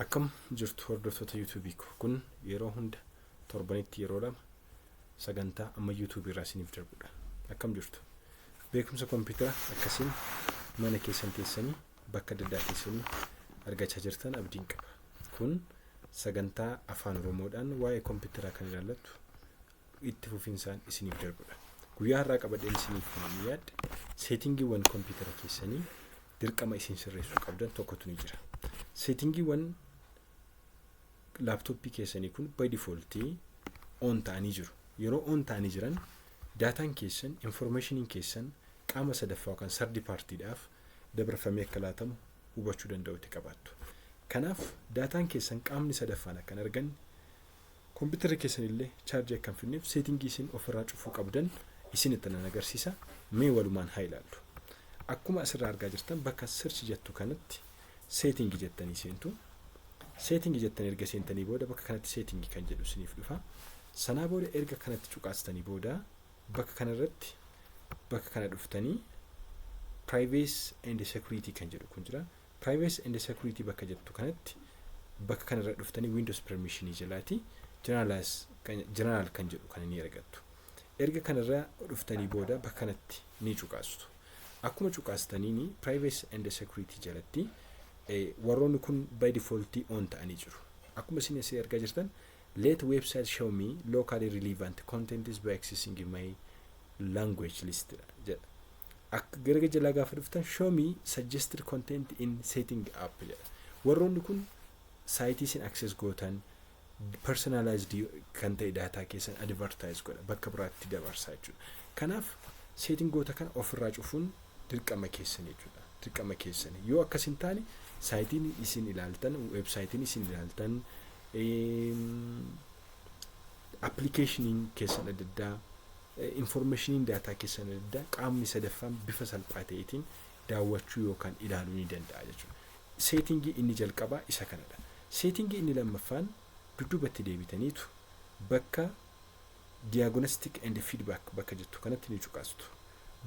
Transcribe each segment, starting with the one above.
Akkam jirtu hordoftoota YouTube ko kun yeroo hunda torbanitti yeroo lama sagantaa amma YouTube irraa isiniif darbudha. Akkam jirtu beekumsa kompiitara akkasiin mana keessan teessanii bakka adda addaa teessanii argachaa jirtan abdiin qaba. Kun sagantaa afaan oromoodhaan waa'ee kompiitaraa kan ilaallattu itti fufinsaan isiniif darbudha. Guyyaa har'aa qabadheen isiniif kan yaadde seetingiiwwan kompiitara keessanii dirqama isin sirreessuu qabdan tokkotu ni jira. Seetingiiwwan laaptooppii keessanii kun by default on ta'anii jiru. Yeroo on ta'anii jiran daataan keessan, informationiin keessan qaama sadaffaa yookaan sardi paartiidhaaf dabarfamee akka laatamu hubachuu danda'utti qabaattu. Kanaaf daataan keessan qaamni sadaffaan akka hin arganne Kompitarri keessan illee chaarjii akka hin fidneef seetingii isin ofirraa cufuu qabdan isinitti nan agarsiisa. Mee walumaan haa ilaallu. Akkuma asirraa argaa jirtan bakka search jettu kanatti seetingii jettanii seentu. Seetingii jettanii erga seentanii booda bakka kanatti seetingii kan jedhu isiniif dhufa. Sanaa booda erga kanatti cuqaastanii booda bakka kanarratti bakka kana dhuftanii privacy and security kan jedhu kun jira. Privacy and security bakka jettu kanatti bakka kana irra dhuftanii Windows permission jalaati generalize kan general kan jedhu kana ni argattu. Erga kana irra dhuftanii booda bakka kanatti ni cuqaastu. Akkuma cuqaastaniini privacy and security jalatti eh, warroonni kun by default on ta'anii jiru. Akkuma isin asii argaa jirtan let website show me locally relevant contents by accessing my language list dha jedha. Akka gara jalaa gaafa dhuftan show me suggested content in setting app jedha. Warroonni kun saayitii isin access gootan personalized kan ta'e daataa keessan advertise godha bakka biraatti dabarsaa jechuudha. Kanaaf seetingoota kana ofirraa cufuun dirqama keessan jechuudha. Dirqama keessan yoo akkas hin taane saayitiin isin ilaaltan weebsaayitiin isin ilaaltan appilikeeshiniin keessan adda addaa Infoormeeshiniin daataa keessan adda addaa qaamni sadaffaan bifa salphaa ta'eetiin daawwachuu yookaan ilaaluu ni danda'a jechuudha. Seetingii inni jalqabaa isa kanadha. Seetingii inni lammaffaan dudduubatti deebitaniitu bakka Diagnostic and Feedback bakka jettu kanatti ni cuqaastu.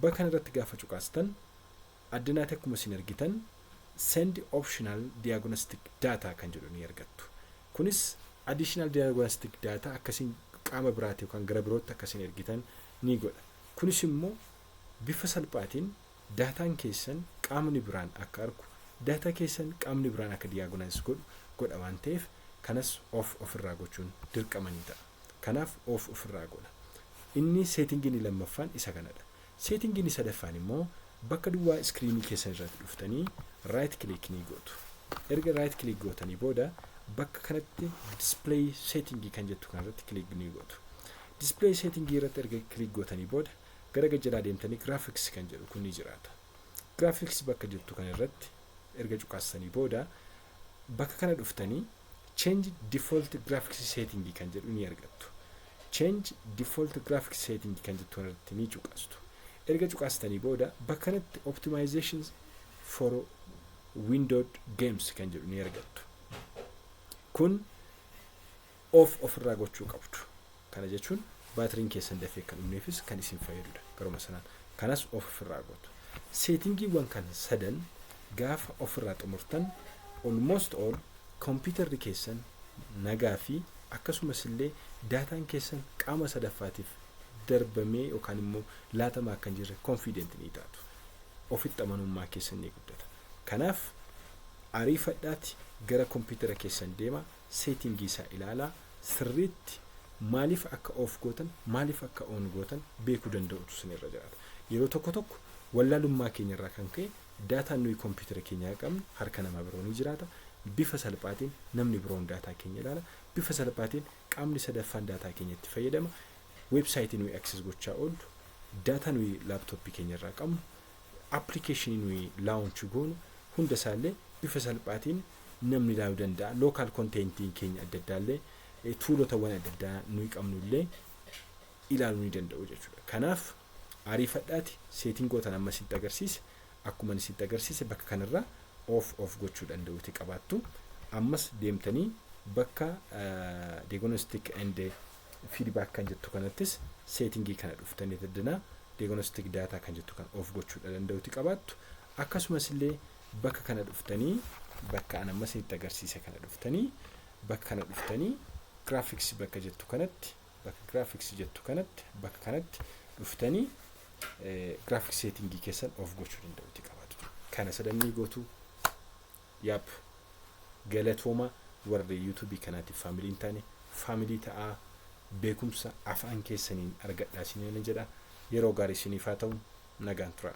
Bakka kanarratti gaafa cuqaastan addanaati akkuma isin argitan Send Optional Diagnostic Data kan jedhu ni argattu. Kunis additional diagnostic data akka isin qaama biraati yookaan gara birootti akka isin ergitan ni godha. Kunis immoo bifa salphaatiin daataan keessan qaamni biraan akka argu, data keessan qaamni biraan akka diagonise godhu godha waan ta'eef kanas off of irraa gochuun dirqama ni ta'a. Kanaaf off of irraa goona. Inni setting inni lammaffaan isa kanadha. Setting inni sadaffaan immoo bakka duwwaa iskiriinii keessan irratti dhuftanii right click ni gootu. Erga right click gootanii booda bakka kanatti display setting kan jettu kana irratti click ni gootu. Display setting irratti erga click gootanii booda gara gad jalaa deemtanii graphics kan jedhu kun ni jiraata. Graphics bakka jirtu kana irratti erga cuqaastanii booda bakka kana dhuftanii Change Default Graphics Setting kan jedhu ni argattu. Change Default Graphics Setting kan jettu irratti ni cuqastu. Erga cuqastanii booda bakka kanatti Optimization for Windowed Games kan jedhu ni argattu. Kun off ofirraa gochuu qabdu. Kana jechuun baatiriin keessan dafee akka hin dhumneefis kan isin fayyadu dha. Garuma sanaan kanas off ofirraa gootu. Seetingiiwwan kana sadan gaafa ofirraa xumurtan almost all kompiitarri keessan nagaa fi akkasumas illee daataan keessan qaama sadaffaatiif darbamee yookaan immoo laatamaa akka hin jirre confident ni taatu. Ofitti amanummaa keessan ni guddata. Kanaaf ariifadhaati gara kompiitara keessan deemaa. setting isaa ilaalaa sirriitti maaliif akka off gootan maaliif akka on gootan beekuu danda'utu isin irra jiraata. Yeroo tokko tokko wallaalummaa keenya irraa kan ka'e daataan nuyi kompiitara keenyaa qabnu harka namaa biroo ni jiraata. Bifa salphaatiin namni biroon daataa keenya ilaala. Bifa salphaatiin qaamni sadaffaan daataa keenya itti fayyadama. Weebsaayitii nuyi access gochaa oollu daataa nuyi laaptooppii keenya irraa qabnu application nuyi launch goonu hunda isaallee bifa salphaatiin namni ilaalu danda'a. Local contentiin keenya adda addaallee eh, tuulotawwan adda addaa nuyi qabnullee ilaaluu ni danda'u jechuudha. Kanaaf ariifadhaati seetingootan amma isinitti agarsiise akkuma isinitti agarsiise bakka kanarraa off off gochuu danda'uuti qabaattu. Ammas deemtanii bakka eh, diagnostic and feedback kan jettu kanattis seetingii kana dhuftanii daddana diagnostic data kan jettu kan of gochuudha danda'uti qabaattu akkasumas illee bakka kana dhuftanii bakka an amma isinitti agarsiise kana dhuftanii bakka kana dhuftanii graphics bakka jettu kanatti bakka graphics jettu kanatti bakka kanatti dhuftanii graphics seetingii keessan of gochuu danda'uti qabaatu kana sadannii gootuu Yap galatooma warri YouTube kanaatiif family hin taane family ta'aa beekumsa afaan keessaniin argadhaa isiniin jedha yeroo gaarii isiniif haa ta'u nagaan turaa.